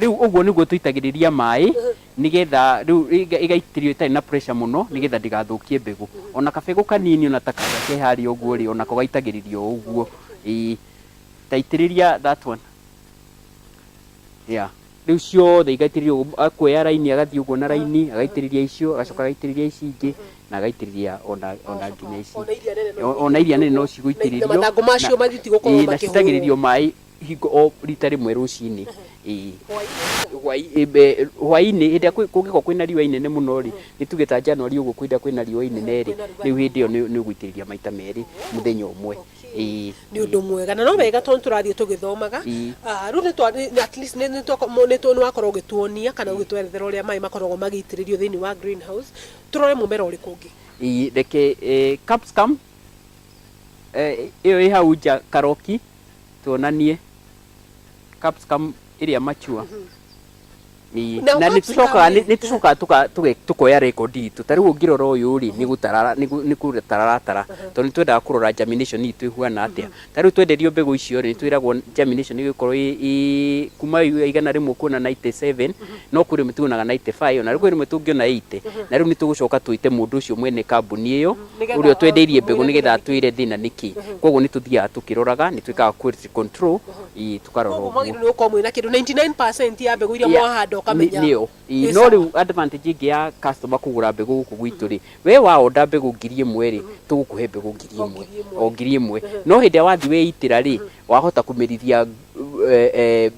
Rĩu ũguo nĩguo tũitagĩrĩria maĩ nĩgetha rĩu ĩga- ĩgaitĩrĩrio ĩtarĩ na pressure mũno nĩgetha ndĩgathũkie mbegũ. Ona kabegũ kanini ona ta karĩa ke harĩa ũguo rĩ, onako gaitagĩrĩrio o ũguo. Ĩĩ. Ta itĩrĩria that one. Yeah. Rĩu ciothe igaitĩrĩrio ũguo, akuoya raini agathiĩ ũguo na raini, agaitĩrĩria icio, agacoka agaitĩrĩria ici ingĩ, na agaitĩrĩria ona ona nginya ici. Ona iria nene no O- Ona iria nene no cigũitĩrĩrio. Na mathangũ macio na- matigũkorwo ĩĩ, na makĩhũrwo. citagĩrĩrio maĩ hingo o rita rĩmwe rũcinĩ ĩĩ hwainĩ hwainĩ hĩndĩ ĩrĩa kwĩ- kũngĩkorwo kwĩna riũa inene mũno rĩ nĩ tuge ta January ũguo kwĩna kwĩna riũa inene rĩ rĩu hĩndĩ ĩyo nĩ nĩ ũgũitĩrĩria maita merĩ mũthenya ũmwe ĩĩ nä å ndå mwega na no wega tondå tå rathiä tå gä thomaga Ĩĩ. rä u nä wakorwo å gä tuonia kana å gä twerethera å rä a maä makoragwo magä itĩ rä rio thä inä wa greenhouse. tå rore må mera å rä kå å ngä Ĩĩ, reke eh, capsicum, eh, ĩyo ĩ hau nja karoki tuonanie capsicum ĩrĩa mature Ii, Na na nĩ capsicum tũcokaga ĩ. nĩ tũcokaga tũka- tũge- tũkoya record itũ ta rĩu ũngĩrora ũyũ rĩ nĩ gũtarara nĩ gũ- nĩ kũratara aratara tondũ nĩ twendaga kũrora germination itũ ĩhuana atĩa ta rĩu twenderio mbegũ icio rĩ nĩ twĩragwo germination ĩgĩkorwo ĩ- ĩ kuma yu- igana rĩmwe kuona 97 no kwĩ rĩmwe tuonaga 95 ona rĩu kwĩ rĩmwe tũngĩona 80 na rĩu nĩ tũgũcoka twĩte mũndũ ũcio mwene kambuni ĩyo ũrĩa twendeirie mbegũ nĩgetha atwĩre thĩna nĩkĩ koguo nĩtũthiaga tũkĩroraga nĩtwĩkaga quality control ii tũkarora koguo ũguo mwagĩrĩirwo nĩ gũkorwo mwĩna kĩndũ 99% ya mbegũ iria Yeah. mwahanda ũkamenya nĩyo Ĩ, Ĩ no sawa. rĩu advantage ĩngĩ ya customer kũgũra mbegũ gũkũ gwitũ rĩ we waonda mbegũ ngiri ĩmwe rĩ tũgũkũhe mbegũ ngiri O ĩmwe ngiri ĩmwe. o ngiri ĩmwe no hĩndĩ ĩrĩa wathi weitĩra rĩ Wahota kũmerithia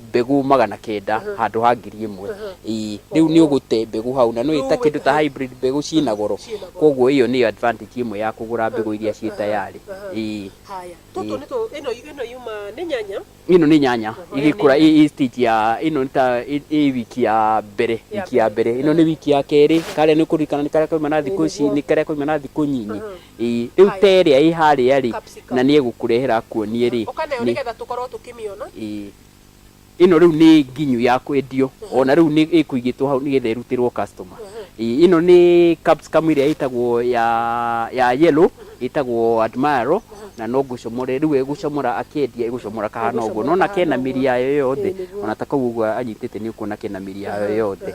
mbegũ magana kenda handũ ha ngiri ĩmwe. Ĩĩ. Rĩu nĩ ũgũte mbegũ hau. Na nĩ ũĩ ta kĩndũ ta hybrid mbegũ ciĩ na goro. Kwoguo ĩyo nĩyo advantage ĩmwe ya kũgũra mbegũ iria ciĩ tayari. Ĩĩ. Haya. Tũtũ nĩ tũ, ĩno, ĩno yuma, nĩ nyanya? Ĩno nĩ nyanya ĩgĩkũra, ĩĩ, ĩĩ stage ya, ĩno nĩ ta ĩĩ wiki ya mbere, wiki ya mbere. Ĩno nĩ wiki ya kerĩ. Karĩa nĩ ũkũririkana nĩ karĩa kauma na thikũ ici, nĩ karĩa kauma na thikũ nyinyi. Ĩ, rĩu ta ĩrĩa ĩ harĩa-rĩ, na nĩ egũkũrehera akuonie-rĩ, nĩ. Ĩ, ĩno rĩu nĩ nginyu ya kwendio, o na rĩu nĩ ĩkũigĩtwo hau nĩgetha ĩrutĩrwo customer. Ĩ, ĩno nĩ capsicum ĩrĩa ĩtagwo ya, ya yellow, ĩtagwo admiral, na no gũcomore rĩu egũcomora akĩendia, egũcomora kahana ũguo. Nĩ wona kena mĩri yayo yothe, o na ta kau ũguo anyitĩte nĩ ũkuona kena mĩri yayo yothe.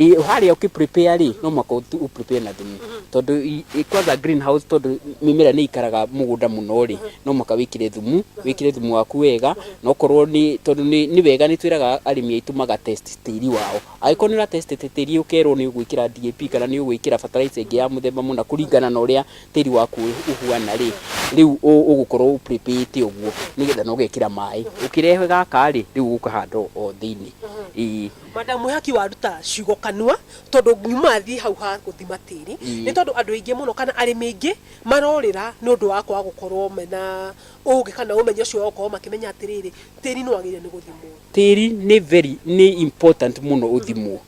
Ĩ, harĩa ũkĩ prepare rĩ no mwaka ũtu ũ prepare na thumu tondũ i- i- kwanza greenhouse tondũ mĩmera nĩ ikaraga mũgũnda mũno rĩ no mwaka wĩkĩre thumu wĩkĩre thumu waku wega na okorwo nĩ tondũ nĩ nĩ wega nĩ twĩraga arĩmi aitũ maga test tĩri wao angĩkorwo nĩ ũra test tĩ- tĩri ũkerwo nĩ ũgwĩkĩra DAP kana nĩ ũgwĩkĩra bataraitha ĩngĩ ya mũthemba mũna kũringana na ũrĩa tĩri waku ũ- ũhuana rĩ rĩu ũ- ũgũkorwo ũ prepare ĩte ũguo nĩgetha na ũgekĩra maĩ ũkĩrehe gaka rĩ rĩu ũkahanda o o thĩinĩ ĩĩ. Madam mwihaki waruta ciugo kanua tondũ ngiuma athiĩ hau ha gũthima tĩri nĩ tondũ andũ aingĩ mũno kana arĩmi aingĩ marorĩra nĩ ũndũ wa kwaga gũkorwo mena ũgĩ kana ũmenyo ũcio wa gũkorwo makĩmenya atĩrĩrĩ tĩri nĩ wagĩrĩire nĩ gũthimwo. Tĩri nĩ very nĩ important mũno ũthimwo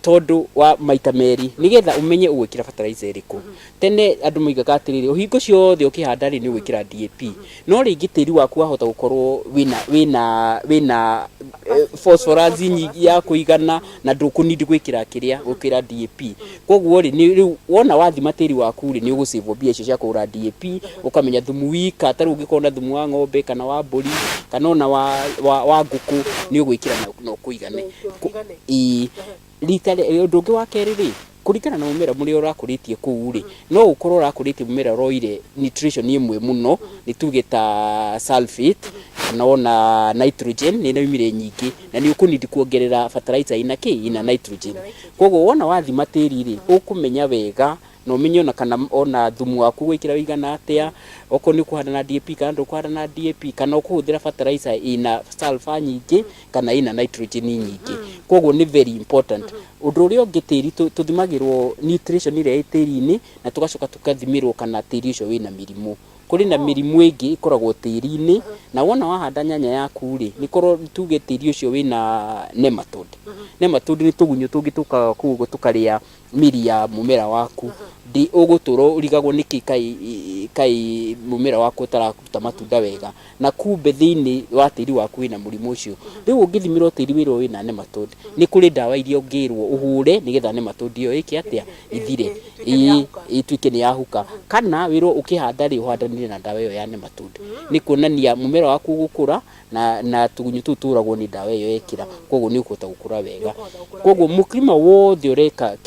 tondũ wa maita merĩ nĩgetha ũmenye ũgwĩkĩra fertilizer ĩrĩkũ Tene andũ moigaga atĩrĩrĩ, ũhinga ũcio wothe ũkĩhanda rĩ nĩ ũgwĩkĩra DAP. No rĩngĩ tĩri waku wahota gũkorwo wĩna wĩna wĩna eh, phosphorus nyingĩ ya kũigana na ndũkũnindi gwĩkĩra kĩrĩa gwĩkĩra DAP. Koguo rĩ nĩ- rĩu wona wathima tĩri waku rĩ nĩ ũgũcĩvwo mbia icio cia kũgũra DAP, ũkamenya thumu wika ta rĩu ũngĩkorwo na thumu wa ng'ombe kana wa mbũri kana ona wa wa wa ngũkũ nĩ ũgwĩkĩra na- na ũkũigane. Kũ- ĩĩ. Rita rĩ- ũndũ ũngĩ wa kerĩ rĩ, Kũringana na mũmera mũrĩa ũrakũrĩtie kũu rĩ, no ũkorwo ũrakũrĩtie mũmera ũroire nutrition ĩmwe mũno, nĩ tuge ta sulphate, kana ona nitrogen nĩ ĩraumire nyingĩ, na nĩ ũkũ need kuongerera bataraitha ĩna kĩ? ĩna nitrogen. Koguo wona wathima tĩri rĩ, ũkũmenya wega na ũmenye ona kana ona thumu waku ũgwĩkĩra ũigana atĩa, okorwo nĩ ũkũhanda na DAP kana ndũkũhanda na DAP, kana ũkũhũthĩra bataraitha ĩna sulphur nyingĩ, kana ina nitrogen nyingĩ koguo nĩ very important ũndũ ũrĩa ũngĩ tĩri tũ- tũthimagĩrwo nutrition ĩrĩa ĩ tĩri-inĩ na tũgacoka tũkathimĩrwo kana tĩri ũcio wĩna mĩrimũ kũrĩ na mĩrimũ ĩngĩ ĩkoragwo tĩri-inĩ na wona wahanda nyanya yaku rĩ nĩ korwo tuge tĩri ũcio wĩna nematode nematode nĩ tũgunyũ tũngĩ tũkaga kũu ũguo tũkarĩa miri ya mumera waku ndi ugutura urigagwo niki kai kai mumera waku utararuta matunda wega na kumbe thiini wa tiri waku wina murimu ucio riu ungithimirwo tiri wirwo wina nematod ni kuri ndawa iria ungirwo uhure nigetha nematod iyo iki atia ithire ii- ituike ni yahuka kana wirwo ukihanda ri uhandanire na ndawa iyo ya nematod ni kuonania mumera waku ugukura na na tugunyu tu turagwo ni ndawa iyo ekira koguo ni ukuhota gukura wega koguo muklima wothe ureka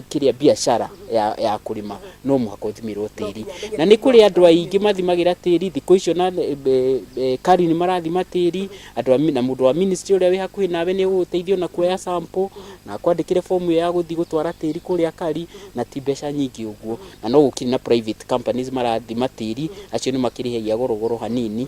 kiria biashara ya ya kurima no muhaka uthimirwo tiri na ni kuri andu aingi mathimagira tiri thiku icio na kari ni marathima tiri andu na mundu wa ministry uria wi hakuhi nawe ni uguteithia na kuoya sample na kwandikire form iyo ya guthii gutwara tiri kuria kari na ti mbeca nyingi uguo na no gukiri na private companies marathima tiri acio ni makirihagia goro goro hanini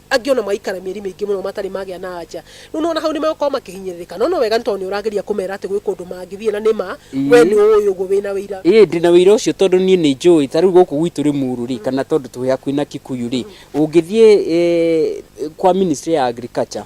Angĩ o na magaikara mĩeri mĩingĩ mũno matarĩ magĩa na anja. Rĩu nĩ wona hau nĩ megũkorwo makĩhinyĩrĩrĩka. No, no wega nĩ tondũ nĩ ũrageria kũmera atĩ gwĩ kũndũ mangĩthiĩ na nĩ ma we nĩ ũũĩ ũguo wĩ na ũira. Ĩĩ ndĩ na ũira ũcio tondũ niĩ nĩ njũĩ ta rĩu gũkũ gwitũ Limuru rĩ, kana tondũ twĩ hakuhĩ na Kikuyu rĩ, ũngĩthiĩ kwa ministry ya agriculture,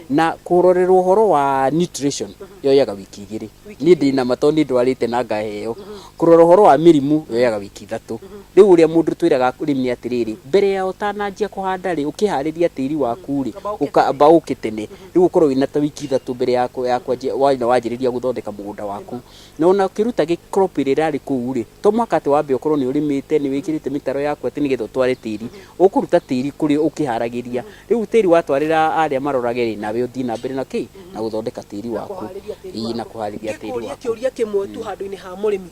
Na kũrorerwo ũhoro wa nutrition yoyaga wiki igĩrĩ. Niĩ ndĩ nama tondũ nĩ ndwarĩte na ngaheo. Kũrora ũhoro wa mĩrimũ yoyaga wiki ithatũ. Rĩu ũrĩa mũndũ twĩraga arĩmi atĩrĩrĩ, mbere ya ũtananjia kũhanda rĩ, ũkĩharĩria tĩri waku rĩ, ũkamba ũke tene. Rĩu ũkorwo wĩna ta wiki ithatũ mbere ya ya kwanjia wanjĩrĩria gũthondeka mũgũnda waku. Na ona ũkĩruta gĩ crop ĩrĩa ĩrarĩ kũu rĩ, to mũhaka atĩ wambe ũkorwo nĩ ũrĩmĩte, nĩ wĩkĩrĩte mĩtaro yaku atĩ nĩgetha ũtware tĩri. Ũkũruta tĩri kũrĩ ũkĩharagĩria. Rĩu tĩri watwarĩra arĩa marorage rĩ, nawe ũthiĩ na mbere na kĩ? Na gũthondeka tĩri waku. Kũharĩria tĩri Ii, na waku. kũharĩria tĩri Ngĩkũria waku. kĩũria kĩmwe tu handũ-inĩ ha mũrĩmi.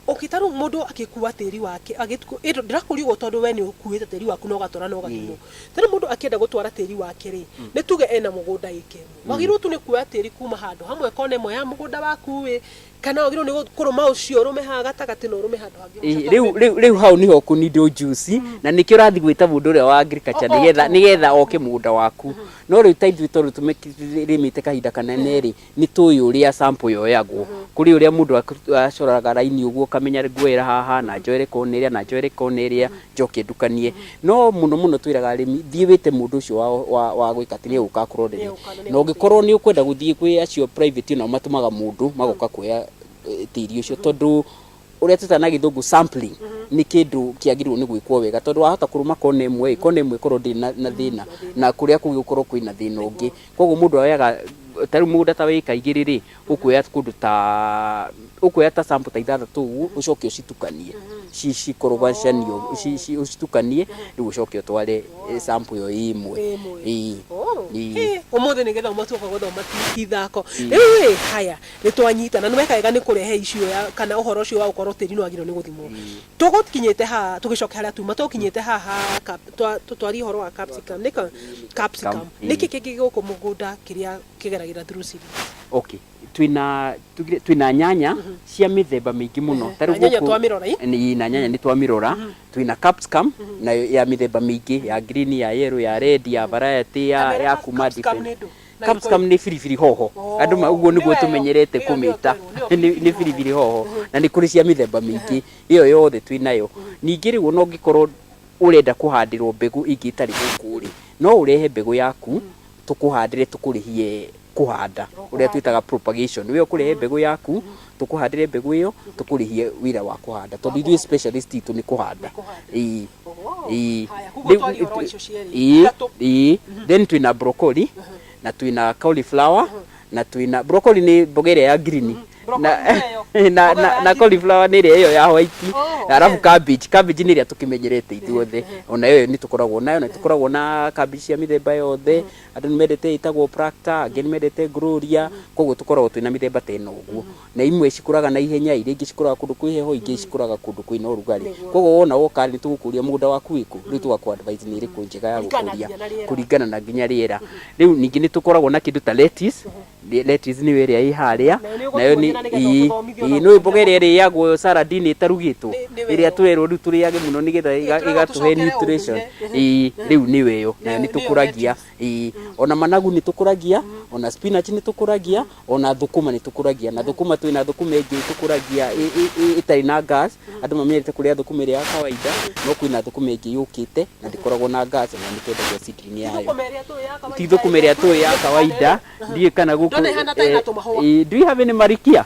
Okay, ta rĩu mũndũ agĩkua tĩri wake, agĩtu- ĩndũ ndĩrakũria ũguo tondũ we nĩ ũkuĩte tĩri waku na ũgatwara na ũgathimwo. Ta rĩu mũndũ akĩenda gũtwara tĩri wake rĩ, nĩ tuge ena mũgũnda ĩka ĩmwe. Wagĩrĩirwo tu nĩ kuoya tĩri kuma handũ hamwe kona ĩmwe ya mũgũnda waku ĩ, Kana wagĩrĩirwo nĩ gũ- kũrũma ũcio ũrũme haha gatagatĩ na ũrũme handũ hangĩ Ĩ, rĩu rĩu- rĩu hau nĩho ũkũnindwo njuci na nĩkĩo ũrathiĩ gwĩta mũndũ ũrĩa wa agriculture O- nĩgetha oke. nĩgetha oke mũgũnda waku no rĩu ta ithuĩ tondũ tũrĩmĩte kahinda kanene rĩ nĩ tũĩ ũrĩa sample yoyagwo kũrĩ ũrĩa mũndũ aku- acoraga raini ũguo ũkamenya nguoera haha na njoere kona ĩrĩa na njoere kona ĩrĩa njoke ndukanie. No mũno mũno twĩraga arĩmi, thiĩ wĩte mũndũ ũcio wa, wa, wa gwĩka atĩ nĩ ũgũka kũronderia. Na ũngĩkorwo nĩ ũkwenda gũthiĩ kwĩ acio private onao matũmaga mũndũ, magoka kuoya eh, tĩri ũcio tondũ ũrĩa twĩtaga na gĩthũngũ sampling nĩ kĩndũ kĩagĩrĩirwo nĩ gwĩkwo wega tondũ wahota kũrũma kona ĩmwe ĩ, kona ĩmwe ĩkorwo ndĩrĩ na, na thĩna na kũrĩa kũngĩ gũkorwo kwĩna thĩna ũngĩ. Koguo mũndũ oyaga ta rĩu mũgũnda ta wa ĩka igĩrĩ rĩ, ũkuoya kũndũ ta ũkuoya ta sample ta ithathatũ ũguo ũcoke ũcitukanie ci- cikorogocanie ũguo, ci- ci- ũcitukanie rĩu ũcoke ũtware eh, sample ĩyo ĩ ĩmwe Ĩ ĩmwe. Ĩĩ. Oh. Ĩĩ. Hey, ũmũthĩ nĩ gĩthomo tuoka gũthoma ti- ti thako rĩu haya nĩ twanyita na nĩ weka wega nĩ kũrehe icio ya kana ũhoro ũcio wa gũkorwo tĩri nĩ wagĩrĩirwo nĩ gũthimwo tũgũkinyĩte haha tũgĩcoke harĩa tuma tũgũkinyĩte haha cap- twa- tũtwarie ũhoro wa capsicum nĩka capsicum Cam- nĩkĩ kĩngĩ gũkũ mũgũnda kĩrĩa kĩgeragĩra through series. okay twina tugire twina nyanya cia mithemba mingi muno Eh, na nyanya twamirora, i? ni na nyanya ni twamirora twina capsicum na ya mithemba mingi ya green ya yellow ya red ya variety ya Kamera ya cap- kuma capsicum different. nĩ ndũ, na capsicum ni biribiri hoho Oh, andu ma uguo nĩ niguo wega. tumenyerete Ĩyo nĩyo kumita twerwo, nĩyo ni ni biribiri biribiri hoho na ni kuri cia mithemba mingi iyo yothe twinayo ningi riu ona ungikorwo urenda kuhandirwo mbegu ingi itari guku ri no urehe mbegu yaku tũkũhandĩre tũkũrĩhie kũhanda ũrĩa twĩtaga propagation nĩwe ũkũrehe mbegũ yaku tũkũhandĩre mbegũ ĩyo tũkũrĩhie wĩra wa kũhanda tondũ ithuĩ specialist itũ nĩ kũhanda ĩĩ ĩĩ Haya, koguo Rĩu- twagĩa ũhoro icio cierĩ. ĩĩ Ithatũ. ĩĩ then twĩna broccoli na twĩna cauliflower na twina broccoli ni mboga ĩrĩa ya green na, Broccoli nĩ ĩyo. na, Mboga na, ya na green. cauliflower nĩ ĩrĩa ĩyo ya white Oh, arabu okay. cabbage cabbage nĩ ĩrĩa tũkĩmenyerete ithuothe ona ĩyo nĩ tũkoragwo nayo na tũkoragwo na cabbage cia mĩthemba yothe andũ nĩ mendete ĩtagwo practa angĩ nĩ mendete gloria koguo tũkoragwo twĩna mĩthemba ta ĩno ũguo Na imwe cikũraga na ihenya, iria ingĩ cikũraga kũndũ kwĩ heho, ingĩ cikũraga kũndũ kwĩna ũrugarĩ. Koguo wona woka rĩ, nĩ tũgũkũria mũgũnda waku wĩkũ, rĩu tũgakũ advise nĩ ĩrĩkũ njega ya gũkũria kũringana na nginya rĩera. Rĩu ningĩ nĩ tũkoragwo na kĩndũ ta lettuce, lettuce nĩyo ĩrĩa ĩ harĩa, nayo nĩ, ĩĩ, ĩĩ, nĩũĩ mboga ĩrĩa ĩrĩagwo salad -inĩ ĩtarugĩtwo? Ĩrĩa tũrerwo rĩu tũrĩage mũno nĩgetha ĩgatũhe nutrition. Ĩĩ, rĩu nĩyo ĩyo, nayo nĩ tũkũragia. Ĩĩ, ona managu nĩ tũkũragia, ona spinach nĩ tũkũragia. ona thũkũma nĩ tũkũragia na thũkũma twĩ na thũkũma ĩngĩ tũkũragia ĩ- ĩ- ĩ- ĩtarĩ na gas andũ mamenyerete kũrĩa thũkũma ĩrĩa ya kawaida no kwĩ na thũkũma ĩngĩ yũkĩte na ndĩkoragwo na gas na nĩ twendagia seedling yayo Thũkũma ĩrĩa tũĩ ya kawaida. ti thũkũma ĩrĩa tũĩ ya kawaida ndiĩ kana gũkũ Ndona ĩhana ta ĩna tũmahũa. Eh, eh, do you have any marikia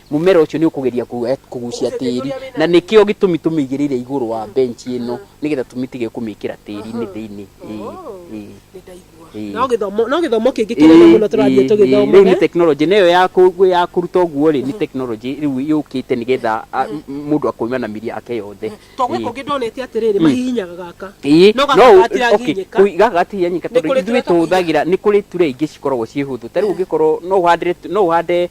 Mũmera ũcio nĩ ũkũgeria kũ- kũgucia tĩri na nĩkĩo gĩtũmi tũmĩigĩrĩire igũrũ wa bench ĩno nĩgetha tũmĩtige kũmĩkĩra tĩri-inĩ thĩinĩ Ĩĩ, ĩĩ, ĩĩ. no gĩthomo no gĩthomo kĩngĩ kĩnene mũno tũrathiĩ rĩu nĩ tũgĩthoma tekinoronjĩ na ĩyo ya kũ- ya kũruta ũguo rĩ nĩ tekinoronjĩ rĩu yũkĩte nĩgetha a- m- mũndũ akauma na mĩri yake yothe To gwä kå ngä ndonete atä rä rä mahihinyaga gaka Ĩĩ, no no gaka ũ- okay, gatiranginyäka kũi- gaka gatihihinyĩka Nĩ tondũ kũrĩ ithuĩ tũrĩa tũhũthagĩra nĩ kũrĩ ture ingĩ cikoragwo ciĩ hũthũ ta rĩu ũngĩkorwo no ũhandĩre tu- no ũhande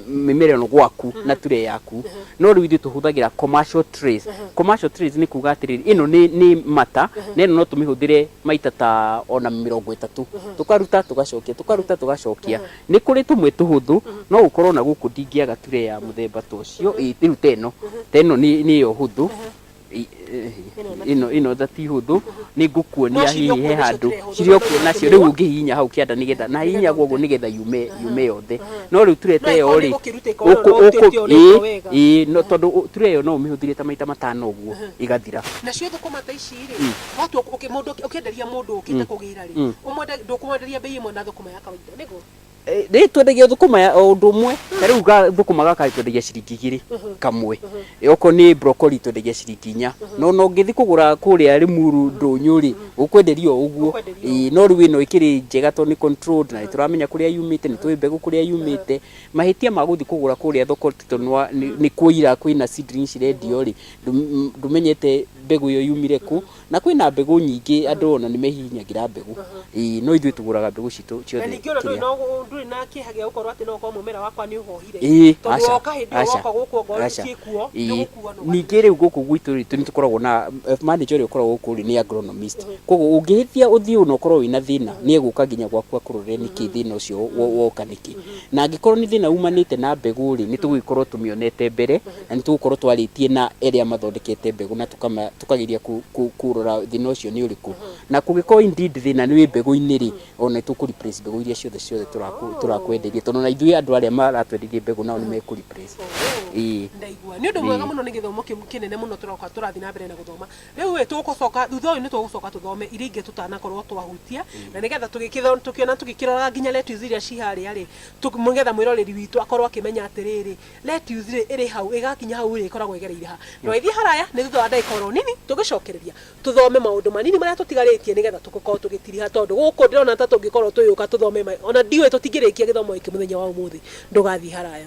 m- mĩmera ĩno gwaku na ture yaku no rĩu ithuĩ tũhũthagĩra commercial trays commercial trays nĩ kuga atĩrĩrĩ ĩno nĩ nĩ mata na ĩno no tũmĩhũthĩre maita ta ona mĩrongo ĩtatũ tũkaruta tũgacokia tũkaruta tũgacokia Nĩ kũrĩ tũmwe tũhũthũ, no ũkorwo ona gũkũ ndingĩaga tray ya mũthemba ta ũcio, rĩu ta ĩno, ta ĩno nĩyo hũthũ, ĩno ta ti hũthũ, nĩ ngũkuonia hihi he handũ, cirĩ o kuo nacio, rĩu ũngĩhihinya hau kĩanda nĩ getha, na hihinyaga ũguo nĩ getha yume yothe, no rĩu tray ta ĩyo rĩ, ĩĩ tondũ tray ĩyo no ũmĩhũthĩre ta maita matano ũguo ĩgathira. Nacio thũkũma ta ici rĩ, watua, mũndũ ũkĩenderia mũndũ ũkĩte kũgĩra rĩ, ndũkũmwenderia mbei ĩmwe na thũkũma ya kawaida. Nĩguo. Rĩu twendagia thũkũma ya o ũndũ ũmwe. Ta rĩu ga thũkũma gaka rĩ, twendagia ciringi igĩrĩ kamwe. Okorwo nĩ broccoli twendagia ciringi inya. Na ona ũngĩthi kũgũra kũrĩa Limuru, Ndũnyũ rĩ, ũkwenderio o ũguo. Ũkwenderio o ũguo. Ĩĩ, no rĩu ĩno ĩkĩrĩ njega tondũ nĩ controlled na nĩ tũramenya kũrĩa yumĩte, nĩ tũĩ mbegũ kũrĩa yumĩte. Mahĩtia ma gũthi kũgũra kũrĩa thoko ti tondũ nĩ wa, nĩ nĩ kũira kwĩna seedlings cirendio rĩ, ndũ, ndũmenyete mbegũ ĩyo yumire kũ. Na kwĩ na mbegũ nyingĩ andũ ona nĩ mehihinyagĩra mbegũ. Ĩĩ no ithuĩ tũgũraga mbegũ citũ Na ciothe ningĩ ona ndũrĩ kĩrĩa. na ũgũ- ndũrĩ na kĩeha gĩa gũkorwo atĩ no ũkorwo mũmera wakwa nĩ ũhohire Ĩĩ, tondũ aca, woka hĩndĩ ĩyo aca, woka gũkũ ongorwo aca. nĩciĩ kuo nĩ Ĩĩ. gũkuo no Ningĩ rĩu gũkũ gwitũ rĩ, nĩ tũkoragwo na manager ũrĩa ũkoragwo gũkũ rĩ nĩ agronomist. Kwoguo ũngĩhĩtia ũthiĩ ona ũkorwo wĩna thĩna nĩ egũka nginya gwaku akũrorere nĩkĩ thĩna ũcio wo- woka nĩkĩ. Na angĩkorwo nĩ thĩna umanĩte na mbegũ rĩ, nĩ tũgũgĩkorwo tũmĩonete mbere Na nĩ tũgũkorũo twarĩtie na arĩa mathondekete mbegũ na tũkageria kũrora thĩna ũcio nĩ ũrĩkũ. Na kũngĩkorũo indeed thĩna nĩ wĩ mbegũ-inĩ-rĩ, o na nĩ tũ replace mbegũ iria ciothe ciothe tũrakwenderia. Tondũ o na ithuĩ andũ arĩa maratwenderia mbegũ nao nĩ mekũ replace. Ĩĩ. Ndaigua. Nĩ ũndũ mwega mũno nĩ gĩthomo kĩnene mũno tũroka tũrathiĩ na mbere na gũthoma. Rĩu-ĩ, tũgũcoka, thutha ũyũ nĩ tũgũcoka tũthome iria ingĩ tũtanakorũo twahutia, na nĩ getha tũgĩkĩona tũgĩkĩroraga nginya letters iria ci harĩa-rĩ, nĩ getha mwĩroreri witũ akorũo akĩmenya atĩrĩrĩ, Lettuce-rĩ, ĩrĩ hau, ĩgaakinya hau ĩrĩ, ĩkoragwo ĩgereire ha? Ndwaithiĩ haraya, nĩ thutha wa ndagĩka o ro nini, tũgĩcokereria. Tũthome maũndũ manini marĩa tũtigarĩtie nĩgetha tũkorwo tũgĩtiriha tondũ gũkũ ndĩrona ta tũngĩkorwo tũgĩũka tũthome ma, o na ndiũĩ, tũtingĩrĩkia gĩthomo gĩkĩ mũthenya wa ũmũthĩ. Ndũgathiĩ haraya.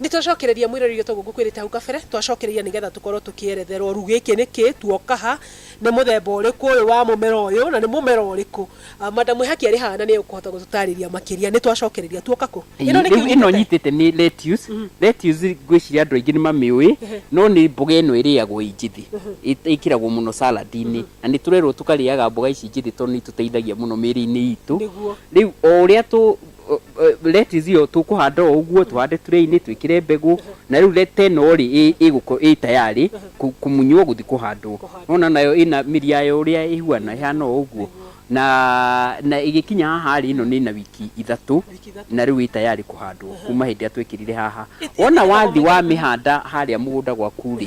Nĩ twacokereria mwĩrorĩria toguo ngũkwĩrĩte hau kabere, twacokereria nĩ getha tũkorwo tũkĩeretherwo rĩu gĩkĩ nĩ kĩ, tuoka ha, nĩ mũthemba ũrĩkũ ũyũ wa mũmera ũyũ, na nĩ mũmera ũrĩkũ. Madam Mwĩhaki arĩ haha na nĩ ekũhota gũtũtarĩria makĩria. Nĩ twacokereria, tuoka kũ? Ĩno nĩkĩ ũnyitĩte? Rĩu ĩno nyitĩte nĩ lettuce. Lettuce ngwĩciria andũ aingĩ nĩ mamĩũĩ, no nĩ mboga ĩno ĩrĩagwo ĩ njĩthĩ. Ĩkĩragwo mũno salad inĩ. Na nĩ tũrerwo tũkarĩaga mboga ici njĩthĩ tondũ nĩ itũteithagia mũno mĩrĩ-inĩ itũ. Nĩguo. Rĩu o ũrĩa tũ, lettuce ĩyo tũkũhanda o ũguo tũhande tray-inĩ twĩkĩre mbegũ na rĩu leta ĩno rĩ ĩ- ĩgũko- ĩ tayarĩ kũ- kũmunywo gũthiĩ kũhandwo nona nayo ĩna mĩri yayo ũrĩa ĩhuana ĩhana o ũguo na na ĩgĩkinya haha rĩ ĩno nĩ na wiki ithatũ na rĩu ĩ tayarĩ kũhandwo kuma hĩndĩ ĩrĩa twekĩrire haha wona wathi wamĩhanda harĩa mũgũnda gwaku rĩ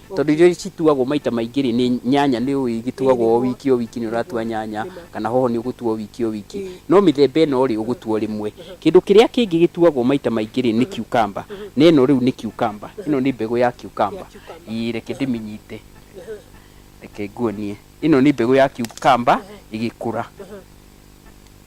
Tondũ irio cituagwo maita maingĩ rĩ, nĩ nyanya nĩ ũĩ igĩtuagwo o wiki o wiki nĩ ũratua nyanya, kana hoho nĩ ũgũtua o wiki o wiki. No mĩthemba ĩno rĩ, ũgũtua o rĩmwe. Kĩndũ kĩrĩa kĩngĩ gĩtuagwo maita maingĩ rĩ, nĩ cucumber. Na ĩno rĩu nĩ cucumber. Ĩno nĩ mbegũ ya cucumber. Ĩĩ reke ndĩmĩnyite. Reke nguonie. Ĩno nĩ mbegũ ya cucumber ĩgĩkũra.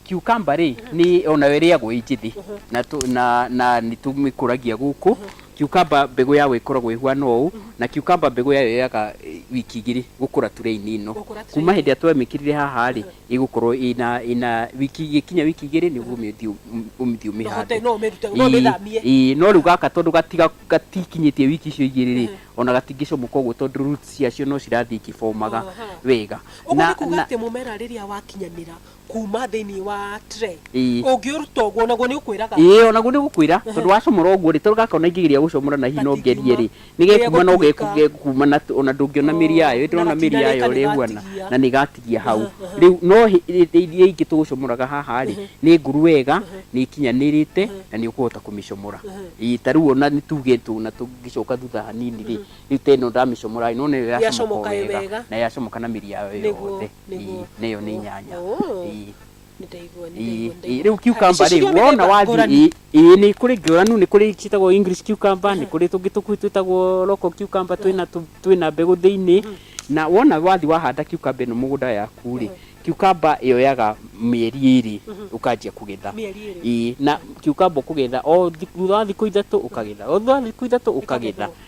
Cucumber rĩ ni onayo ĩrĩagwo ĩ njĩthĩ na tũ- na na nĩ tũmĩkũragia gũkũ. Cucumber mbegũ yayo ĩkoragwo ĩhuana ũũ na cucumber mbegũ yayo yoyaga eh, wiki igĩrĩ gũkũra turee-inĩ ĩno. Gũkũra tray-inĩ. Kuma hĩndĩ ĩrĩa twamĩkĩrire haha rĩ ĩgũkorwo ĩna ĩna wiki igĩkinya wiki igĩrĩ nĩ ũgũmĩthiĩ ũmĩthiĩ No hote- ũmĩhande. no ũmĩrute- no ũmĩthamie. Ĩĩ, no rĩu gaka tondũ gatiga- gatikinyĩtie wiki icio igĩrĩ rĩ ona gatingĩcomoka ũguo tondũ roots ciacio no cirathiĩ ikĩbomaga Aha. wega. ũguo Na- nĩ kuga na- atĩ mũmera rĩrĩa wakinyanĩra kuma thĩinĩ wa tray Ii. ũngĩũruta ũguo naguo nĩ ũkwĩraga ĩĩ onaguo nĩ gũkwĩra tondũ wacomora ũguo rĩ tondũ gaka ona ingĩgeria gũcomora na hihi no ngerie rĩ nĩ gekuma no Nĩgegũtuĩka. gekuma na ona ndũngĩona mĩri yayo ĩtĩ na ona mĩri gatinarĩka yayo ũrĩa ĩhuana nĩgatigia. na nĩ gatigia hau rĩu no hĩ- hĩ- hĩ- iria ingĩ tũgũcomoraga haha rĩ nĩ nguru wega nĩ ikinyanĩrĩte na nĩ ũkũhota kũmĩcomora Ĩĩ, ta rĩu ona nĩ tuge tũna tũngĩcoka thutha hanini rĩ rĩu ta ĩno ndamĩcomoraĩ no nĩyo yacomoka Yacomoka ĩ wega wega. na yacomoka na mĩri yayo Nĩguo, yothe nĩguo. Ii, nĩyo nĩ nyanya Oh. Ii. nĩndaigua Ii, nĩndaigua ii, rĩu cucumber rĩ wona wona wathiĩ ĩĩ nĩ kũrĩ ngũranu nĩ kũrĩ ciĩtagwo english cucumber nĩ kũrĩ tũngĩ tũkuĩ twĩtagwo local cucumber twĩna tũ- twĩna mbegũ thĩinĩ na wona wathiĩ wahanda cucumber ĩno mũgũnda yaku rĩ cucumber yoyaga mĩeri ĩrĩ ũkanjia kũgetha Mĩeri ĩrĩ. Ĩĩ, na cucumber ũkũgetha o thi- thutha wa thikũ ithatũ ũkagetha o thutha wa thikũ ithatũ ũkagetha Ĩkagethwo.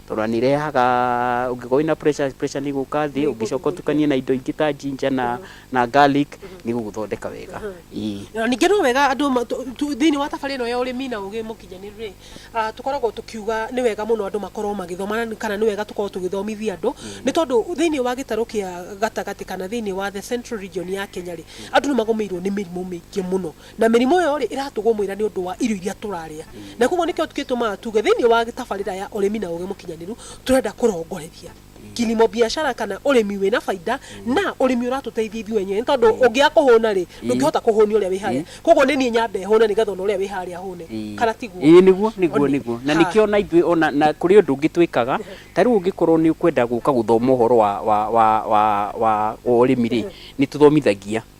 Tondũ nĩ irehaga, ũngĩkorwo wĩna pressure, pressure nĩ ĩgũka thĩ, ũngĩcoka ũtukanie na indo ingĩ ta ginger na, na garlic, nĩ ĩgũgũthondeka wega. Ĩĩ. Na ningĩ no wega andũ ma- tu- tu- thĩinĩ wa thabarĩ ĩno ya ũrĩmi na ũgĩ mũkinyanĩru rĩ ah, tũkoragwo tũkiuga nĩ wega mũno andũ makorwo magĩthoma na- kana nĩ wega tũkorwo tũgĩthomithia andũ nĩ tondũ thĩinĩ wa gĩtarũ kĩa gatagatĩ kana thĩinĩ wa the central region ya kenya rĩ andũ nĩ magũmĩirwo nĩ mĩrimũ mĩingĩ mũno Na mĩrimũ ĩyo rĩ, ĩratũgũmĩra nĩ ũndũ wa irio iria tũrarĩa. Na kwoguo nĩkĩo gĩtũmaga tuge thĩinĩ wa tabarĩra ya ũrĩmi na ũgĩ mũkinyanĩru, tũrenda kũrongoreria kilimo biashara kana ũrĩmi wĩna baida na ũrĩmi ũratũteithia ithuĩ enyewe. Nĩ tondũ ũngĩaga kũhũna rĩ, ndũngĩhota kũhũnia ũrĩa wĩ harĩa. Kwoguo nĩ niĩ nyambe hũne nĩgetha ona ũrĩa wĩ harĩa ahũne. Kana tiguo? Ĩĩ nĩguo, nĩguo, nĩguo. Na nĩkĩo ona ithuĩ ona na kũrĩ ũndũ ũngĩ twĩkaga, ta rĩu ũngĩkorwo nĩ ũkwenda gũka gũthoma ũhoro wa wa wa wa wa ũrĩmi rĩ, nĩ tũthomithagia.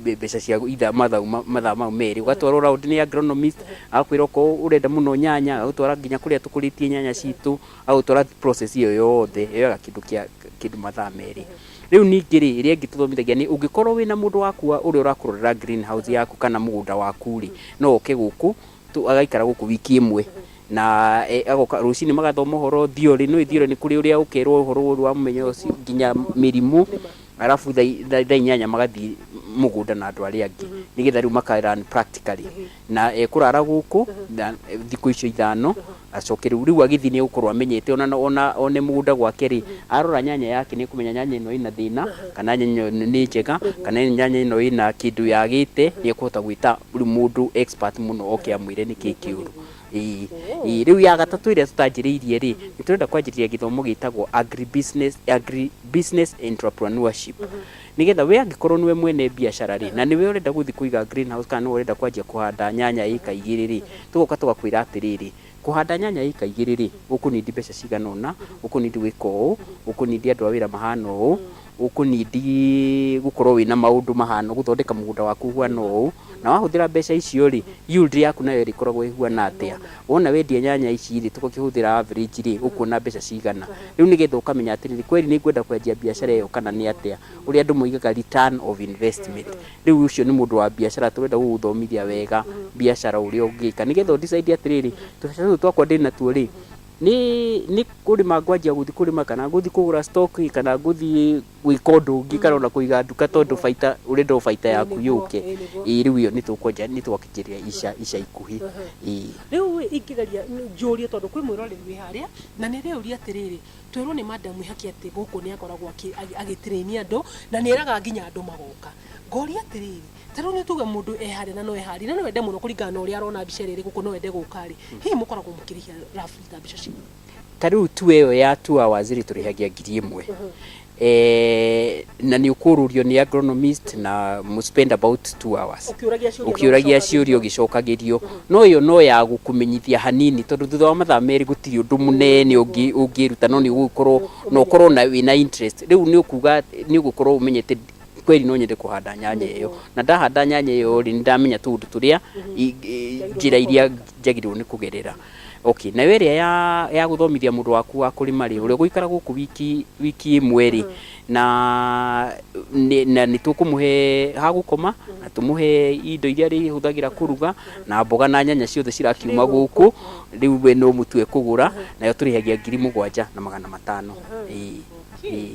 mbeca cia itha mathaũ mathaa mau merĩ ũgatwarwo round nĩ agronomist agakwĩra okorwo ũrenda mũno nyanya agagũtwara nginya kũrĩa tũkũrĩtie nyanya citũ agagũtwara process ĩyo yothe yoyaga kĩndũ kĩa kĩndũ mathaa merĩ. Rĩu ningĩ rĩ ĩrĩa ĩngĩ tũthomithagia nĩ ũngĩkorwo wĩna mũndũ waku wa ũrĩa ũrakũrorera green house yaku kana mũgũnda waku rĩ no oke gũkũ tũ agaikara gũkũ wiki ĩmwe na e agoka rũcinĩ magathoma ũhoro theory nĩũĩ theory nĩ kũrĩ ũrĩa ũkerwo ũhoro ũrĩa wa mũmenya ũcio nginya mĩrimũ arabu thaa i- thaa thaa inyanya magathiĩ mũgũnda na andũ arĩa angĩ nĩ getha rĩu maka learn practically na ekũrara gũkũ na eh, thikũ icio ithano acoke rĩu rĩu agĩthiĩ nĩ egũkorwo amenyete ona ona one mũgũnda gwake rĩ arora nyanya yake nĩ ekũmenya nyanya ĩno ĩna thĩna kana nyanya ĩno nĩ njega kana nyanya ĩno ĩna kĩndũ yagĩte nĩ ekũhota gwĩta rĩu mũndũ expert mũno oke amwĩre nĩkĩ kĩũru Ĩĩ. Ooh. Ĩĩ, rĩu ya gatatũ ĩrĩa tũtanjĩrĩirie rĩ, nĩ tũrenda kwanjĩrĩria gĩthomo gĩtagwo Agri Business, Agri Business Entrepreneurship. Nĩ getha we angĩkorwo nĩwe mwene mbiacara rĩ, na nĩwe ũrenda gũthi kũiga green house kana nĩwe ũrenda kwanjia kũhanda nyanya ĩka igĩrĩ rĩ, tũgoka tũgakwĩra atĩrĩrĩ, kũhanda nyanya ĩka igĩrĩ rĩ, ũkũ need mbeca cigana ũna, ũkũ need gwĩka ũũ, ũkũ need andũ a wĩra mahana ũũ, Ũkũ need gũkorwo wĩna maũndũ mahana ũũ, gũthondeka mũgũnda waku ũhana ũũ, na wahũthĩra mbeca icio rĩ, yield yaku nayo ĩrĩkoragwo ĩhuana atĩa. Wona wendia nyanya ici rĩ, tũgĩkĩhũthĩra average rĩ, ũkuona mbeca cigana. Rĩu nĩgetha ũkamenya atĩrĩrĩ, kweri nĩ ngwenda kwanjia mbiacara ĩyo kana nĩ atĩa. Ũrĩa andũ moigaga return of investment. Rĩu ũcio nĩ mũndũ wa mbiacara tũrenda gũgũthomithia wega mbiacara ũrĩa ũngĩka. Nĩgetha ũ decide atĩrĩrĩ, tũbeca tũtũ twakwa ndĩnatuo rĩ, Nĩ nĩ kũrĩma ngwanjia gũthiĩ kũrĩma kana ngũthiĩ kũgũra stock kana ngũthiĩ gwĩka ũndũ ũngĩ kana ona kũiga nduka tondũ baita ũrenda o baita yaku yũke. Ĩĩ rĩu ĩyo nĩ tũkwanjia nĩ twakĩkĩrĩria ica ica ikuhĩ. Ĩĩ. Rĩu ĩ ingĩgeria njũrie tondũ kwĩ mwĩroreri wĩ harĩa, na nĩ rĩũria atĩrĩrĩ, twerwo nĩ Madam Ihaki atĩ gũkũ nĩ akoragwo akĩ agĩ train andũ, na nĩ eraga nginya andũ magoka. Ngoria atĩrĩrĩ, ta rĩu nĩ tuge mũndũ eharĩa na no eharĩa na no ende mũno kũringana na ũrĩa arona mbica ĩrĩa ĩrĩ gũkũ no ende gũka rĩ hihi mũkoragwo mũkĩrĩhia rabu ta mbica ciao ta rĩu tu ĩyo ya two hours rĩ tũrĩhagia ngiri ĩmwe Eh, na nĩ ũkũrũrio nĩ agronomist na mũ spend about two hours Ũkĩũragia ciũria na ũkĩũragia ũgĩcokagĩrio. ciũria ũgĩcokagĩrio no ĩyo no ya gũkũmenyithia hanini tondũ thutha wa mathaa merĩ gũtirĩ ũndũ mũnene ũngĩ- ũngĩruta no nĩ ũgũkorwo na ũkorwo na wĩna interest rĩu nĩ ũkuga nĩ ũgũkorwo ũmenyete kweli no nyende kũhanda nyanya ĩyo na ndahanda nyanya ĩyo rĩ nĩndamenya tũũndũ tũrĩa i- i- njĩra iria njagĩrĩirwo nĩ kũgerera okay nayo ĩrĩa ya, ya gũthomithia mũndũ waku wa kũrĩma rĩ ũrĩa ũgũikara gũkũ wiki, wiki ĩmwe rĩ na, nĩ- na nĩ tũkũmũhe ha gũkoma na tũmũhe indo iria arĩhũthagĩra kũruga na mboga na nyanya ciothe cirakiuma gũkũ rĩu we no mũtu ekũgũra nayo tũrĩhagia ngiri mũgwanja na magana matano Ĩĩ, ĩĩ.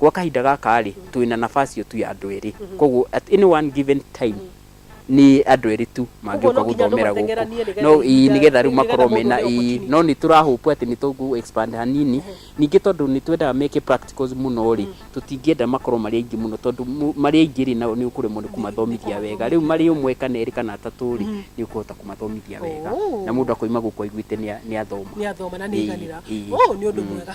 Gwa kahinda gaka-rĩ, twĩ na nafasi ĩyo tu ya andũ erĩ. Kogwo at any one given time, nĩ andũ erĩ tu mangĩũka gũthomera gũkũ. No ĩĩ nĩ getha rĩu makorwo mena ĩĩ. No nĩ tũra hope atĩ nĩ tũkũ expand hanini. Ningĩ tondũ nĩ twendaga meke practicals mũno-rĩ, tũtingĩenda makorwo marĩ aingĩ mũno tondũ marĩ aingĩ-rĩ nao nĩ ũkũremwo nĩ kũmathomithia wega. Rĩu marĩ ũmwe kana erĩ kana atatũ-rĩ, nĩ ũkũhota kũmathomithia wega. Na mũndũ akoima gũkũ aiguĩte nĩ athoma. Nĩ athoma na nĩ aiganĩra. Ũũ nĩ ũndũ mwega.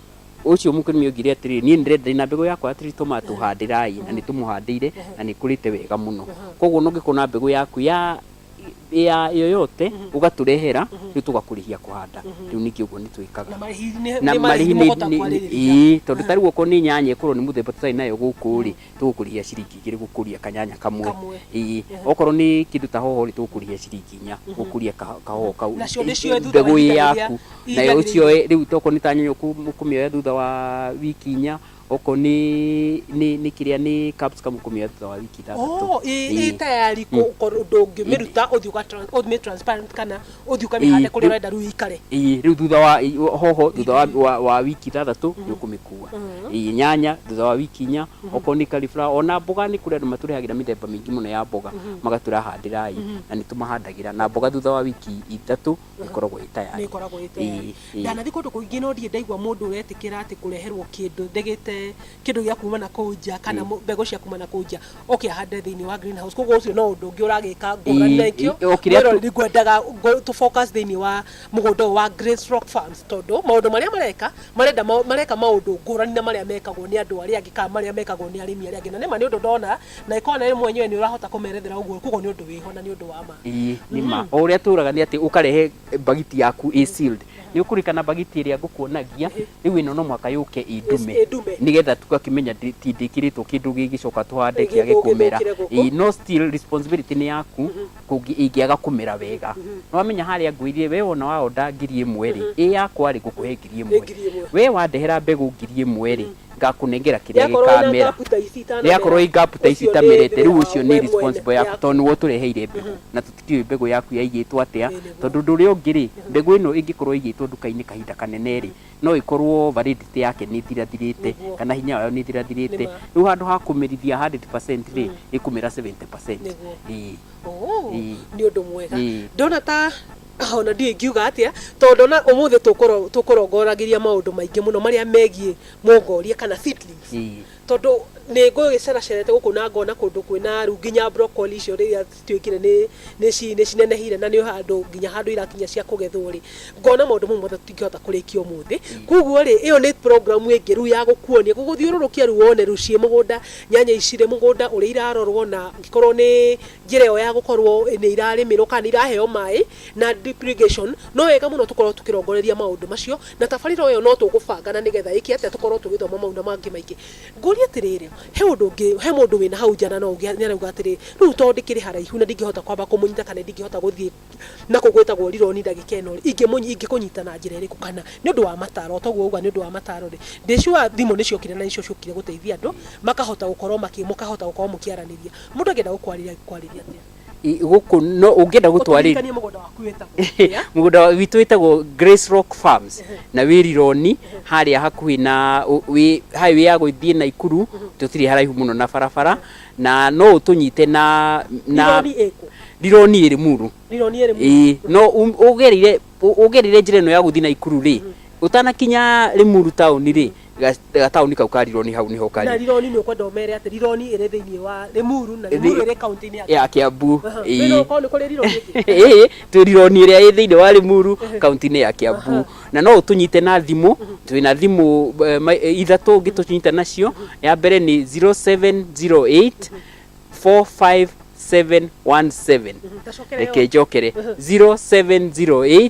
Ũcio mũkũrĩmi oigire atĩrĩrĩ, niĩ ndĩrenda ndĩ na mbegũ yakwa ya tree tomato handĩrai, na nĩ tũmũhandĩire na nĩ ĩkũrĩte wega mũno. Koguo ona ũngĩkorwo na mbegũ yaku ya ya yoyote ũgatũrehera rĩu tũgakũrĩhia kũhanda. Rĩu ningĩ ũguo nĩ twĩkaga. Na marĩhi nĩ- Na nĩ marĩhi nĩ- mũkũhota nĩ- kwarĩrĩria. ĩĩ, tondũ ta rĩu okorwo nĩ nyanya ĩkorwo nĩ mũthemba tũtarĩ nayo gũkũ rĩ, tũgũkũrĩhia ciringi igĩrĩ gũkũria kanyanya kamwe Kamwe. ĩĩ okorwo nĩ kĩndũ ta hoho rĩ tũgũkũrĩhia ciringi inya gũkũria ka- kahoho kau Nacio ndĩcioe thutha wa mbegũ ĩ ihinda rĩrĩa- yaku ihinda nayo rĩrĩa ũcioe rĩu tokorwo nĩ ta nyanya ũkũ- ũkũmĩoya thutha wa wiki inya okorwo nĩ nĩ nĩ kĩrĩa nĩ capsicum ũkũmĩoya thutha wa wiki ithathatũ Oh, ĩ Ĩĩ. ĩ tayari kũ- kũ- ndũngĩmĩruta ũthiĩ ũga- ũmĩ transparent kana Ũthiĩ ũkamĩhande kũrĩa ũrenda rĩu ĩikare. Ĩĩ rĩu thutha wa hoho thutha wa, wa, wa wiki ithathatũ nĩ ũkũmĩkua. Ĩĩ nyanya thutha wa wiki inya, okorwo nĩ cauliflower ona mboga nĩ kũrĩ andũ matũrehagĩra mĩthemba mĩingĩ mũno ya mboga magatwĩra handĩrai na nĩ tũmahandagĩra na mboga thutha wa wiki ithatũ ĩkoragwo ĩ Nĩ tayari. ĩkoragwo ĩ tayari. Ĩĩ, ĩĩ. Ndanathiĩ kũndũ kũingĩ no ndirĩ ndaigua mũndũ ũretĩkĩra atĩ kũreherwo kĩndũ ndĩgĩte kĩndũ gĩa kuma na kũu nja kana mũ- mbegũ cia kuma na kũu nja. okay ahande thĩinĩ wa greenhouse koguo ũcio no ũndũ ũngĩ ũragĩka ngũrani na Ii- ikĩo ii- o kĩrĩa tu- mwĩroreri ngwendaga ngo- tũ focus thĩinĩ wa mũgũnda ũyũ wa Grace Rock Farms tondũ maũndũ marĩa mareka marenda ma- mareka maũndũ ngũrani na marĩa mekagwo nĩ andũ arĩa angĩ kana marĩa mekagwo nĩ arĩmi arĩa angĩ na nĩma nĩ ũndũ ndona na ĩkorwo na ĩmwe nyoe nĩ ũrahota kũmerethera ũguo koguo nĩ ũndũ wĩho na nĩ ũndũ wa ma Ii, nĩ ma o ũrĩa tũraga nĩ atĩ ũkarehe mbagiti yaku ĩ sealed nĩ ũkũrikana bagiti ĩrĩa ngũkuonagia rĩu ĩno no mwaka yũke ĩndume Ĩ- ĩndume. nĩgetha tugakĩmenya ndĩ- ti ndĩkĩrĩtwo kĩndũ gĩgĩcoka tũhande Gĩthũke, kĩage kũmera gĩthũkĩre gũkũ. Ĩ, no still responsibility nĩ yaku kũngĩ- ingĩaga kũmera wega nĩwamenya harĩa ngwĩrire we wona waonda ngiri ĩmwe rĩ ĩ yakwa rĩ ngũkũhe ngiri Ĩ ĩmwe ngiri ĩmwe. we wandehera mbegũ ngiri ĩmwe rĩ ngakũnengera kĩrĩa Yakorwo ĩna gĩkamera ngapu ta ici itanamera, rĩakorwo ingapu ta ici ũcio nĩ itamerete rĩ rĩu wĩra ũcio wa nĩ we mwene, responsible yaku yaku. tondũ nĩwe ũtũreheire mbegũ na tũti- Ndiũĩ mbegũ yaku yaigĩtwo atĩa, tondũ ũndũ ũrĩa ũngĩ rĩ, mbegũ ĩno ĩngĩkorwo ĩigĩtwo nduka-inĩ kahinda kanene rĩ, no ĩkorwo validity yake nĩ ĩthirathirĩte, kana hinya wayo nĩ ĩthirathirĩte. Rĩu handũ ha kũmĩrithia hundred percent rĩ, ĩkũmĩra seventy percent. Nĩguo. Ĩĩ. Oo, Ĩĩ. nĩ ũndũ mwega. Ĩĩ. Ndona ta ona ndiũĩ ingiuga atĩa, tondũ ndona ũmũthĩ tũkũro- tũkũrongoragĩria maũndũ maingĩ mũno marĩa megiĩ mongoria kana seedlings. Ĩĩ. Tondũ nĩ ngũgĩceracerete gũkũ na ngona kũndũ kwĩna rĩu nginya broccoli icio rĩrĩa cituĩkire nĩ nĩ ci- nĩ cinenehire na nĩ handũ nginya handũ irakinya cia kũgethwo rĩ ngona maũndũ mau mothe tũtingĩhota kũrĩkia ũmũthĩ koguo rĩ ĩyo nĩ programu ĩngĩ rĩu ya gũkuonia gũgũthiũrũrũkia rĩu wone rĩu ciĩ mũgũnda nyanya ici rĩ mũgũnda ũrĩa irarorwo na angĩkorwo nĩ njĩra ĩyo ya gũkorwo nĩ irarĩmĩrwo kana nĩ iraheo maĩ na drip irrigation no wega mũno tũkorwo tũkĩrongoreria maũndũ macio na tabarĩra ĩyo no tũgũbanga na nĩgetha ĩke atĩa tũkorwo tũgĩthoma mau na mangĩ maingĩ Ngũria atĩrĩrĩ, he ũndũ ũngĩ, he mũndũ wĩna hau nja na no ũgĩa, nĩarauga atĩrĩ, rĩu tondũ ndĩkĩrĩ haraihu na ndingĩhota kwamba kũmũnyita kana ndingĩhota gũthiĩ na kũu gwĩtagwo Rironi ndagĩka ĩno-rĩ, ingĩmũnyi, ingĩkũnyita na njĩra ĩrĩkũ? Kana nĩ ũndũ wa mataro, o toguo wauga nĩ ũndũ wa mataro-rĩ, ndĩ sure thimũ nĩciokire na nĩcio ciokire gũteithia andũ makahota gũkorwo makĩ, mũkahota gũkorwo mũkĩaranĩria. Mũndũ angĩenda gũkwarĩria angĩkwarĩria atĩa? I- gũkũ no ũngĩenda gũtwarĩria Ũtũririkanie mũgũnda waku wĩtagwo. mũgũnda wa- witũ wĩtagwo Grace Rock Farms na wĩ Rironi harĩa hakuhĩ na ũ- wĩ highway ya gũthiĩ Naikuru tũtirĩ haraihu mũno na barabara na no ũtũnyite na na Rironi ĩkũ? Rironi ĩrĩ muru Rironi ĩrĩ mu- ĩĩ no um- ũgereire ũ- ũgereire njĩra ĩno ya gũthiĩ Naikuru rĩ ũtanakinya Limuru town rĩ ga- gataũni kau ka rironi hau nĩho na kari rironi nä å kwenda å mere atä rironi ä rä thä inä wa rä muru na rä muru ä rä kauntä-inä ya ya kiambu Aha. Ĩĩ. Wĩna ũkorwo nĩ kũrĩ rironi ĩngĩ? Ĩĩ, twĩ rironi ĩrĩa ĩ thĩinĩ wa rĩmuru kaunti-inĩ ya kiambu na no ũtũnyite na thimũ twĩ na thimũ eh, ma- eh, ithatũ ũngĩ tũnyita nacio ya mbere nĩ 0708 45717 Ndacokere reke njokere 0708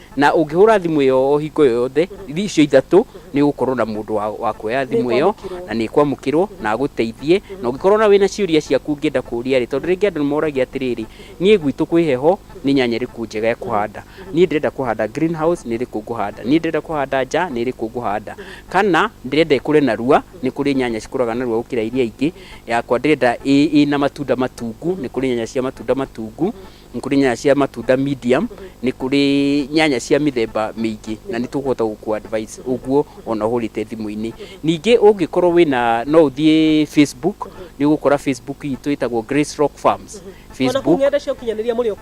Na ũngĩhũra thimũ ĩyo o hingo ĩyo yothe, icio ithatũ, nĩ ũgũkorwo na mũndũ wa, wa kuoya thimũ ĩyo, Nĩĩkwamũkĩrwo. na nĩĩkwamũkĩrwo, na agũteithie. Na ũngĩkorwo ona wĩna ciũria ciaku ũngĩenda kũũria-rĩ, tondũ rĩngĩ andũ nĩmoragia atĩrĩrĩ, niĩ gwitũ kwĩ heho, nĩ nyanya ĩrĩkũ njega ya kũhanda? Niĩ ndĩrenda kũhanda green house, nĩ ĩrĩkũ ngũhanda? Niĩ ndĩrenda kũhanda nja, nĩ ĩrĩkũ ngũhanda? Kana, ndĩrenda ĩkũre narua, nĩ kũrĩ nyanya cikũraga narua gũkĩra iria ingĩ, yakwa ndĩrenda ĩ, ĩna matunda matungu, nĩ kũrĩ nyanya cia matunda matungu. nĩ kũrĩ nyanya cia matunda medium, nĩ kũrĩ nyanya cia mĩthemba mĩingĩ na nĩ tũkũhota gũkũ advise ũguo ona ũhũrĩte thimũ-inĩ. Ningĩ ũngĩkorwo wĩna no ũthiĩ Facebook, nĩ ũgũkora Facebook itũ ĩtagwo Grace Rock Farms Facebook.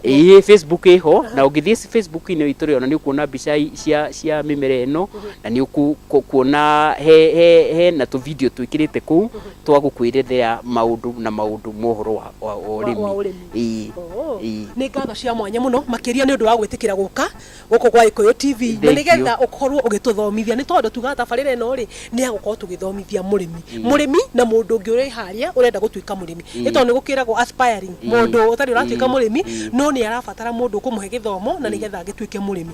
Ĩĩ Facebook ĩho na ũngĩthiĩ Facebook-inĩ itũ rĩ ona nĩ ũkuona mbica cia cia mĩmera ĩno na nĩ ũkuona he he hena tũ video twĩkĩrĩte kũu twa gũkwĩrethera maũndũ na maũndũ mohoro wa ũrĩmi. Nĩ ngatho cia mwanya mũno makĩria nĩ ũndũ wa gwĩtĩkĩra gũka gũkũ gwa Gĩkũyũ TV na nĩ getha ũkorwo ũgĩtũthomithia nĩ tondũ tugaga tabarĩra ĩno rĩ nĩ ya gũkorwo tũgĩthomithia mũrĩmi, mũrĩmi na mũndũ ũngĩ ũreharĩria ũrenda gũtuĩka mũrĩmi nĩ tondũ nĩ gũkĩragwo aspiring mũndũ ũtarĩ ũratuĩka mũrĩmi no nĩ arabatara mũndũ ũkũmũhe gĩthomo na nĩ getha agĩtuĩke mũrĩmi.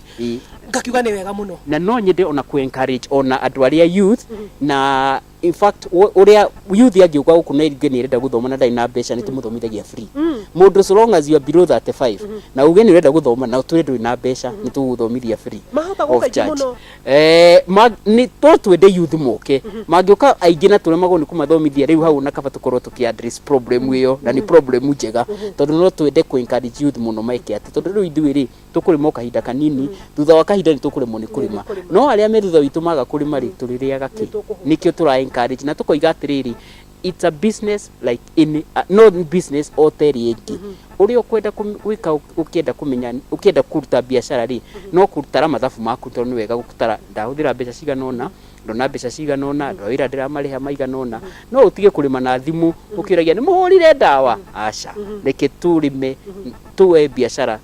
Ngakiuga nĩ wega mũno. Na no nyende ona kũ encourage ona andũ arĩa youth na... in fact ũ- ũrĩa youth angĩũka gũkũ na iringe nĩ arenda gũthoma na ndarĩ na mbeca nĩ tũmũthomithagia free mũndũ so long as you are below 35 na uge nĩ ũrenda gũthoma na ũtwĩre ndũrĩ na mbeca nĩ tũgũthomithia free Mahota of gũka aingĩ charge. mũno. Eh, ma- nĩ to twende youth moke mangĩũka aingĩ na tũremagwo nĩ kũmathomithia rĩu hau na kaba tũkorwo tũkĩ address problem ĩyo na nĩ problem njega tondũ no twende kũ encourage youth mũno meke atĩ tondũ rĩu ithuĩ rĩ Tũkũrĩma o kahinda kanini, thutha wa kahinda nĩ tũkũremwo nĩ kũrĩma. No arĩa me thutha witũ maga kũrĩma-rĩ, tũrĩrĩaga kĩ? Nĩkĩo tũra encourage na tũkoiga atĩrĩrĩ, it's a business like any, no nĩ business o ta ĩrĩa ĩngĩ. Ũrĩa ũkwenda gwĩka ũkĩenda kũmenya, ũkĩenda kũruta mbiacara-rĩ, no gũtara mathabu maku tondũ nĩ wega gũtara, ndahũthĩra mbeca cigana ũna, ndona mbeca cigana ũna, andũ a wĩra ndĩramarĩha maigana ũna. No ũtige kũrĩma na thimũ ũkĩũragia nĩ mũhũrire ndawa? Aca. Reke tũrĩme, tũe mbiacara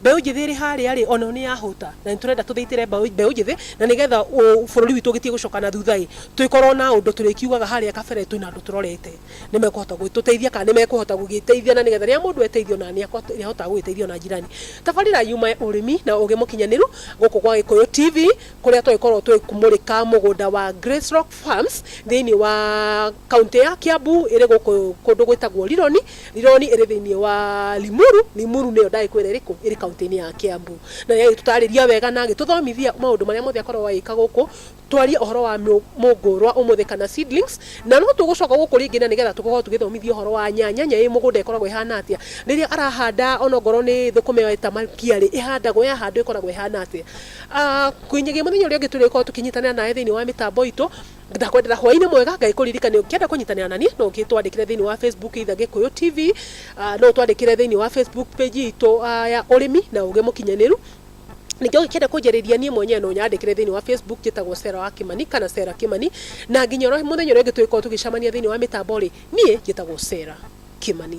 Mbeũ njĩthĩ ĩrĩ harĩa rĩ, onayo nĩyahũta, na nĩtũrenda tũthĩitĩre mbaũ, mbeũ njĩthĩ, na nĩgetha ũ, bũrũri witũ ũgĩtige gũcoka na thutha ĩ, tũgĩkorwo na ũndũ tũrĩkiugaga harĩa kabere twĩna andũ tũrorete, nĩmekũhota gũgĩtũteithia kana nĩmekũhota gũgĩteithia na nĩgetha rĩrĩa mũndũ eteithio ona nĩako, nĩahotaga gũgĩteithia ona njirani. Tabarĩra yumae ũrĩmi na ũgĩ mũkinyanĩru gũkũ gwa Gĩkũyũ TV, kũrĩa twagĩkorwo tũgĩkĩmũrĩka mũgũnda wa Grace Rock Farms thĩinĩ wa kauntĩ ya Kiambu ĩrĩ gũkũ kũndũ gwĩtagwo Rironi, Lironi ĩrĩ thĩinĩ wa Limuru. Limuru nĩyo ndagĩkwĩra ĩrĩkũ? Ĩrĩ kaũntĩ-inĩ ya Kiambu. Na nĩ agĩtũtarĩria wega na agĩtũthomithia maũndũ marĩa mothe akoragwo agĩka gũkũ. Twarie ũhoro wa mũngũrwa ũmũthĩ kana seedlings. Na no tũgũcoka gũkũ rĩngĩ na nĩgetha tũkorwo tũgĩthomithio ũhoro wa nyanya. Nyanya ĩĩ mũgũnda ĩkoragwo ĩhana atĩa? Rĩrĩa arahanda ona okorwo nĩ thũkũma ĩyo eta makia rĩ, ĩhandagwo, yahandwo ĩkoragwo ĩhana atĩa? Nginya mũthenya ũrĩa ũngĩ tũrĩkorwo tũkĩnyitanĩra nawe thĩinĩ wa mĩtambo itũ. Ndakwendera hwainĩ mwega, Ngai kũririkane ũngĩenda kũnyitanĩra na niĩ no ũgĩtwandĩkĩre thĩinĩ wa Facebook either Gĩkũyũ TV, ah, no ũtwandĩkĩre thĩinĩ wa Facebook page itũ ah, ya ũrĩmi na ũgĩ mũkinyanĩru. Ningĩ ũngĩkĩenda kũnjarĩria niĩ mwenyewe no ũnyandĩkĩre thĩinĩ wa Facebook njĩtagwo Sarah wa Kĩmani kana Sarah Kĩmani na nginya ũrĩa mũthenya ũrĩa ũngĩ tũgĩkorwo tũgĩcemania thĩinĩ wa mĩtambo rĩ, niĩ njĩtagwo Sarah Kĩmani.